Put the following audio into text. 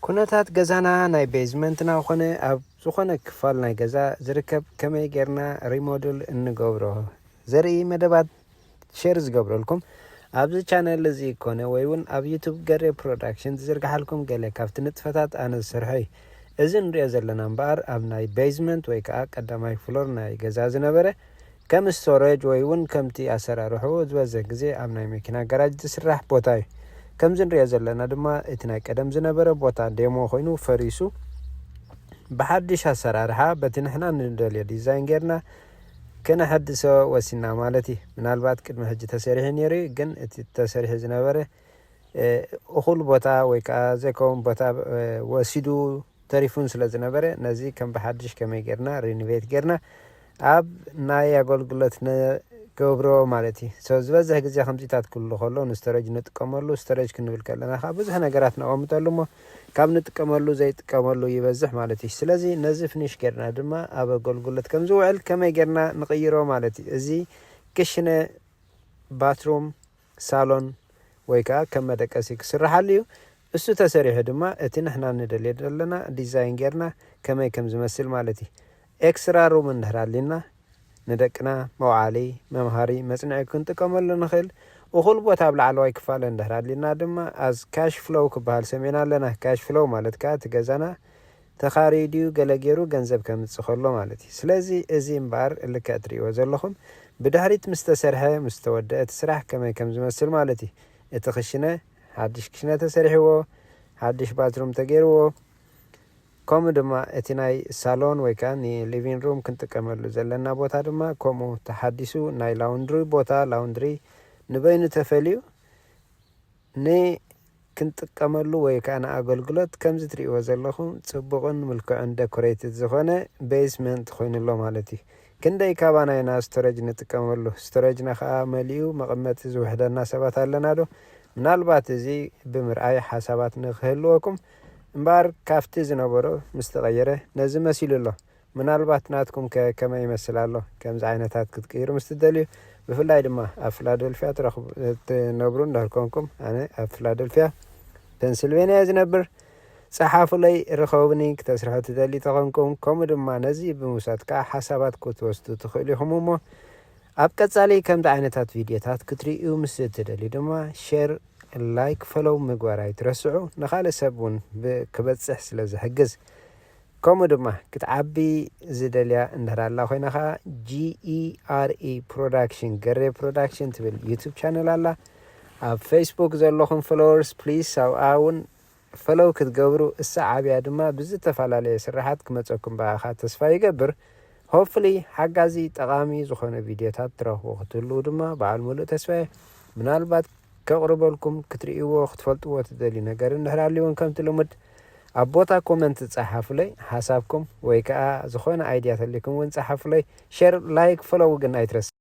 ኩነታት ገዛና ናይ ቤዝመንትና ኮነ ኣብ ዝኾነ ክፋል ናይ ገዛ ዝርከብ ከመይ ጌርና ሪሞድል እንገብሮ ዘርኢ መደባት ሼር ዝገብረልኩም ኣብዚ ቻነል እዚ ኮነ ወይ እውን ኣብ ዩቱብ ገሬ ፕሮዳክሽን ዝዝርግሓልኩም ገለ ካብቲ ንጥፈታት ኣነ ዝሰርሖ እዩ እዚ ንሪኦ ዘለና እምበኣር ኣብ ናይ ቤዝመንት ወይ ከዓ ቀዳማይ ፍሎር ናይ ገዛ ዝነበረ ከም ስቶረጅ ወይ ውን ከምቲ ኣሰራርሕኡ ዝበዝሕ ግዜ ኣብ ናይ መኪና ጋራጅ ዝስራሕ ቦታ ዩ። ከምዚ ንሪኦ ዘለና ድማ እቲ ናይ ቀደም ዝነበረ ቦታ ዴሞ ኮይኑ ፈሪሱ ብሓዱሽ ኣሰራርሓ በቲ ንሕና ንደልዮ ዲዛይን ጌርና ክነሐድሶ ወሲንና ማለት ዩ። ምናልባት ቅድሚ ሕጂ ተሰሪሑ ኔሩ ዩ ግን እቲ ተሰሪሑ ዝነበረ እኹል ቦታ ወይ ከኣ ዘይከውን ቦታ ወሲዱ ተሪፉን ስለ ዝነበረ ነዚ ከም ብሓዱሽ ከመይ ጌርና ሪኒቬት ጌርና ኣብ ናይ ኣገልግሎት ንገብሮ ማለት እዩ። So ዝበዝሕ ግዜ ከምዚታት ክህሉ ከሎ ንስቶረጅ ንጥቀመሉ። ስቶረጅ ክንብል ከለና ከኣ ብዙሕ ነገራት ነቐምጠሉ እሞ ካብ ንጥቀመሉ ዘይጥቀመሉ ይበዝሕ ማለት እዩ። ስለዚ ነዚ ፍኒሽ ጌርና ድማ ኣብ ኣገልግሎት ከም ዝውዕል ከመይ ጌርና ንቕይሮ ማለት እዩ። እዚ ክሽነ፣ ባትሩም፣ ሳሎን ወይ ከኣ ከም መደቀሲ ክስርሓሉ እዩ። እሱ ተሰሪሑ ድማ እቲ ንሕና ንደልዮ ዘለና ዲዛይን ጌርና ከመይ ከም ዝመስል ማለት እዩ። ኤክስራ ሩም እንድሕር ኣልዩና ንደቅና መውዓሊ፣ መምሃሪ፣ መጽንዒ ክንጥቀመሉ ንኽእል። እኹል ቦታ ኣብ ላዕለዋይ ክፋል እንድሕር ኣልዩና ድማ ኣዝ ካሽ ፍሎው ክበሃል ሰሚዕና ኣለና። ካሽ ፍሎው ማለት ከኣ እቲ ገዛና ተኻርዩ ድዩ ገለ ጌሩ ገንዘብ ከምጽእ ከሎ ማለት እዩ ስለዚ እዚ እምበኣር ልክዕ ትርእይዎ ዘለኹም ብድሕሪት ምስ ተሰርሐ ምስ ተወደኣ እቲ ስራሕ ከመይ ከም ዝመስል ማለት እዩ እቲ ክሽነ ሓድሽ ክሽነ ተሰሪሕዎ ሓድሽ ባትሩም ተጌርዎ ከምኡ ድማ እቲ ናይ ሳሎን ወይ ከኣ ን ሊቪን ሩም ክንጥቀመሉ ዘለና ቦታ ድማ ከምኡ ተሓዲሱ ናይ ላውንድሪ ቦታ ላውንድሪ ንበይኑ ተፈልዩ ን ክንጥቀመሉ ወይ ከኣ ንኣገልግሎት ከምዚ ትርእይዎ ዘለኹም ጽቡቕን ምልኩዕን ደኮረይትድ ዝኾነ በይስመንት ኮይኑ ኣሎ ማለት እዩ። ክንደይ ካባና ኢና ስቶረጅ ንጥቀመሉ? ስቶረጅና ከኣ መሊኡ መቐመጢ ዝውሕደና ሰባት ኣለና ዶ? ምናልባት እዚ ብምርኣይ ሓሳባት ንክህልወኩም እምበኣር ካብቲ ዝነበሮ ምስ ተቐየረ ነዚ መሲሉ ኣሎ ምናልባት ናትኩም ከ ከመይ ይመስል ኣሎ? ከምዚ ዓይነታት ክትቅይሩ ምስ ትደልዩ ብፍላይ ድማ ኣብ ፍላደልፍያ ትነብሩ እንድሕር ኮንኩም ኣነ ኣብ ፍላደልፍያ ፐንስልቨንያ እየ ዝነብር ጸሓፉለይ ርኸቡኒ ክተስርሑ ትደልዩ ተኾንኩም ከምኡ ድማ ነዚ ብምውሳድ ከኣ ሓሳባት ክትወስዱ ትኽእሉ ኢኹም እሞ ኣብ ቀጻሊ ከምዚ ዓይነታት ቪድዮታት ክትርእዩ ምስ እትደልዩ ድማ ሼር ላይክ ፈሎው ምግባር ኣይትረስዑ ንኻልእ ሰብ እውን ክበጽሕ ስለ ዝሕግዝ ከምኡ ድማ ክትዓቢ ዝደልያ እንድሕር ኣላ ኮይና ከኣ GERE Production፣ ገሬ ፕሮዳክሽን፣ ትብል ዩቱብ ቻነል ኣላ። ኣብ ፈይስቡክ ዘለኹም ፍሎወርስ ፕሊስ ኣብኣ ውን ፈሎው ክትገብሩ እሰዓብያ ድማ ብዝተፈላለየ ስርሓት ክመጸኩም ብኣኻ ተስፋ ይገብር። Hopefully ሓጋዚ ጠቓሚ ዝኾነ ቪድዮታት ትረኽቡ ክትህልዉ ድማ በዓል ሙሉእ ተስፋየ። ምናልባት ከቕርበልኩም ክትርእይዎ ክትፈልጥዎ ትደልዩ ነገር እንድሕር ኣልዩ ውን ከምቲ ልሙድ ኣብ ቦታ ኮመንት ጸሓፉለይ ሓሳብኩም ወይ ከኣ ዝኾነ ኣይድያ ተልይኩም ውን ጸሓፉለይ ሸር ላይክ ፎሎው ግን ኣይትረስዕ።